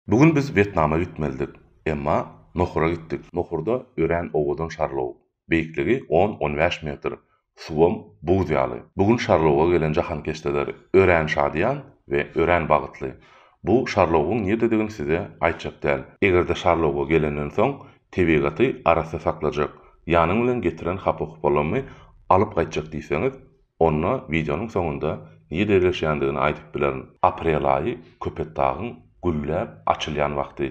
Bu gün biz Wýetnama gitmelidik. Emma Nohura gitdik. Nohurda örän owadan şarlog. Beýikligi on-on bäş metr. Suwam buz ýaly. Bu gün şarloga gelen jahankeşdeler örän şadyýan we örän bagytly. Bu şarlogyň nirdedigini size aýtjak däl. Eger-de şarloga gelenden soň tebigaty arassa saklajak, ýanyň bilen getiren hapa-hupalarymy alyp gaýtjak diýseňiz, Onda wideonyň soňunda nirede ýerleşýändigini aýdyp bilerin. Aprel aýy Köpetdagyň gülläp açylýan wagty.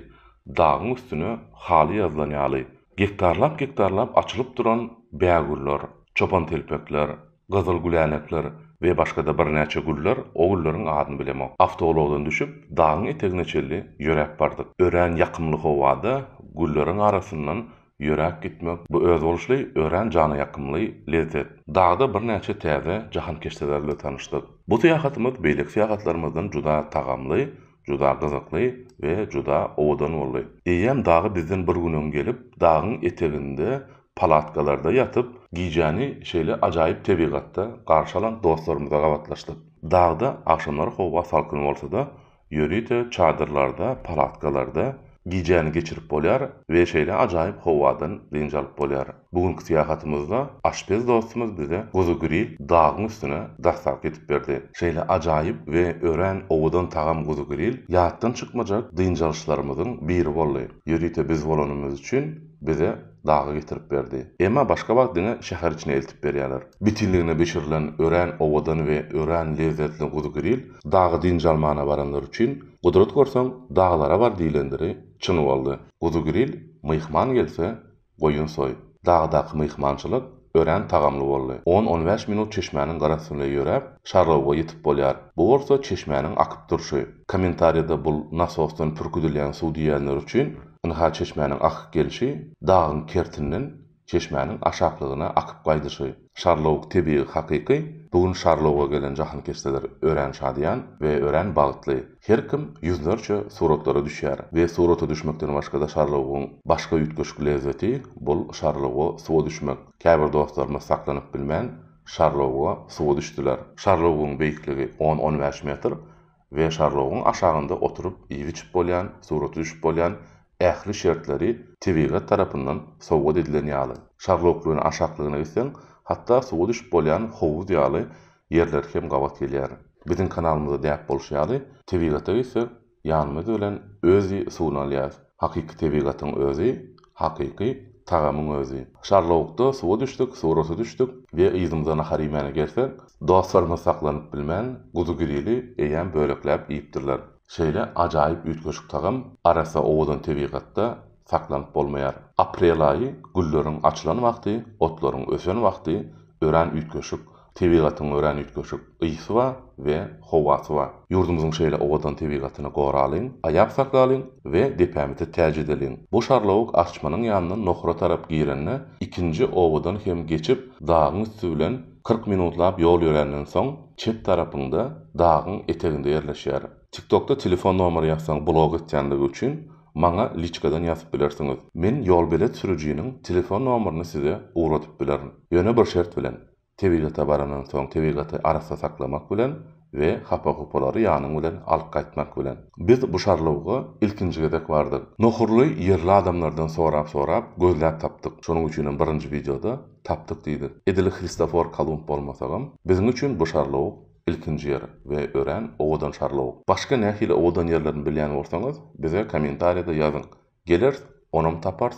Dagyň üstüne haly ýazylan ýaly. Gektarlap-gektarlap açylyp duran bägüller, çopantelpekler, gyzyl gülänekler we başga-da birnäçe güller, o gülleriň adyny bilemok. Awtoulagdan düşüp, dagyň etegine çenli ýöräp bardyk. Örän ýakymly howada gülleriň arasyndan Ýöräp gitmek, bu özboluşly, örän jana ýakymly lezzet. Dagda birnäçe täze jahankeşdeler bilen tanyşdyk. Bu syýahatymyz beýleki syýahatlarymyzdan juda tagamly, juda gyzykly we juda owadan boldy. Eýýäm dagy bizden bir gün öň gelip, dagyň eteginde palatkalarda ýatyp, gijäni şeýle ajaýyp tebigatda garşy alan dostlarymyza gabatlaşdyk. Dagda agşamlary howa salkyn bolsa-da, Ýörite çadyrlarda, palatkalarda gijäni geçirip bolýar we şeýle ajaýyp howadan dynç alyp bolýar. Bu günki syýahatymyzda aşpez dostumyz bize guzy gril dagyň üstüne daslapky edip berdi. Şeýle ajaýyp we örän owadan tagam guzy gril ýatdan çykmajak dynç alyşlarymyzyň biri boldy. Ýörite biz bolanymyz üçin bize dagy getirip berdi. Emma başga wagt diňe şäher içine eltip berýärler. Bitinligine bişirilen örän owadan we örän lezzetli guzygiril dagy dynç almana baranlar üçin, Gudrat görseň, daglara bar diýlendiri çyn boldy. Guzygiril, myhman gelse, goýun soý. Dagdaky myhmançylyk Örän tagamly boldy. On-on bäş minut çeşmäniň gara üstünde ýöräp, şarlawuga ýetip bolýar. Bu bolsa çeşmäniň akyp durşy. Kommentariýada bul nasosdan pürküdilýän suw diýýänler üçin, ynha çeşmäniň akyk gelşi, dagyň kertinden çeşmäniň aşaklygyna akyp gaýdyşy. Şarlawuk tebigy hakyky, bu gün şarlawuga gelen jahankeşdeler örän şadyýan we örän bagtly. Her kim ýüzlerçe suratlara düşýär we surata düşmekden başga-da şarlawugyň başga üýtgeşik lezzeti, bul şarlawuga suwa düşmek. Käbir dostlarymyz saklanyp bilmän, şarlawuga suwa düşdüler. Şarlawugyň beýikligi on-on bäş metr we şarlawugyň aşagynda oturyp iýip-içip bolýan, surata düşüp bolýan ähli şertleri tebigat tarapyndan sowgat edilen ýaly. Şarlawuk bilen aşaklygyna gitseň, hatda suwa düşüp bolýan howuz ýaly ýerleri kem gabat gelýär. Biziň kanalymyzda däp bolşy ýaly, tebigata gitsek, ýanymyz bilen özi suwuny alýas. Hakyky tebigatyň özi, hakyky tagamyň özi. Şarlawukda suwa düşdük, surata düşdük we yzymyza nahar iýmäne gelsek, dostlarymyz saklanyp bilmän, guzy grili eýýäm bölekläp iýipdirler. Şeýle ajaýyp üýtgeşik tagam arassa owadan tebigatda saklanyp bolmaýar. Aprel aýy gülleriň açylan wagty, otlaryň ösen wagty, örän üýtgeşik, Tebigatyň örän üýtgeşik ysy bar we howasy bar. Ýurdumyzyň şeýle owadan tebigatyny goralyň, aýap saklalyň we depämizi täç edeliň. Bu şarlawuk Arçmanyň ýanyndan Nohura tarap girende, ikinji obadan hem geçip, dagyň üsti bilen kyrk minutlap ýol ýöränden soň, çep tarapyňda, dagyň eteginde ýerleşýär. Tiktokda telefon nomeri ýazsaň blog etýänligi üçin, maňa liçkadan ýazyp bilersiňiz. Men ýolbelet sürüjiniň telefon nomerini size ugradyp bilerin. Ýöne bir şert bilen. Tebigata barandan soň tebigaty arassa saklamak bilen we hapa-hupalary ýanyň bilen alyp gaýtmak bilen. Biz bu şarlawga ilkinji gezek bardyk. Nohurly ýerli adamlardan sorap-sorap gözläp tapdyk. Şonuň üçinem birinji wideoda tapdyk diýdik. Edil Hristofor Kolumb bolmasagam, biziň üçin bu şarlawuk ilkinji ýer we örän owadan şarlawuk. Başga nähili owadan ýerlerini bilýän bolsaňyz, bize kommentariýada ýazyň. Gelers, onam tapars,